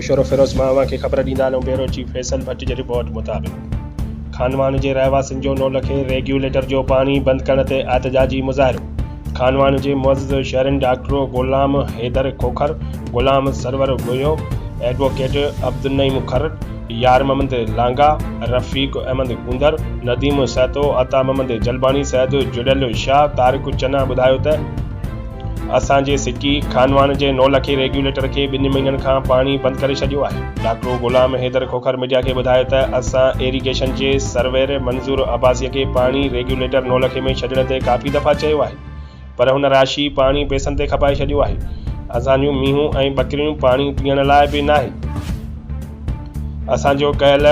نوشهروفيروز مان اوهان کي خبر ڏيندا هلون بيورو چيف فيصل ڀٽ جي رپورٽ مطابق خانوان جي رهواسين جو نولکي ريگيوليٽر جو پاڻي بند ڪرڻ تي احتجاجي مظاهرو خانواهن جي معزز شهرين ڊاڪٽرو غلام حيدر کوکر، غلام سرور گويو، ايڊووڪيٽ عبدالنعيم کر، يارمحمد لانگا، رفيق احمد گوندر، نديم سهتو، عطا محمد جلباڻي سيد جڙيل شاهه، طارق چنا ٻڌايو ته اسان جي سٽي خانواهن جي نولکي ريگيوليٽر کي ٻن مهينن کان پاڻي بند ڪري ڇڏيو آهي. ڊاڪٽر غلام حيدر کوکر ميڊيا کي ٻڌايو ته اسان ايريگيشن جي سرويئر منظور عباسيء کي پاڻي ريگيوليٽر نولکي ۾ ڇڏڻ تي ڪافي دفعا چيو آهي پر هن راشي پاڻي پيسن تي کپائي ڇڏيو آهي اسان جون مينهون ۽ ٻڪريون پاڻي پيئڻ لاء به ناهي اسان جو ڪيل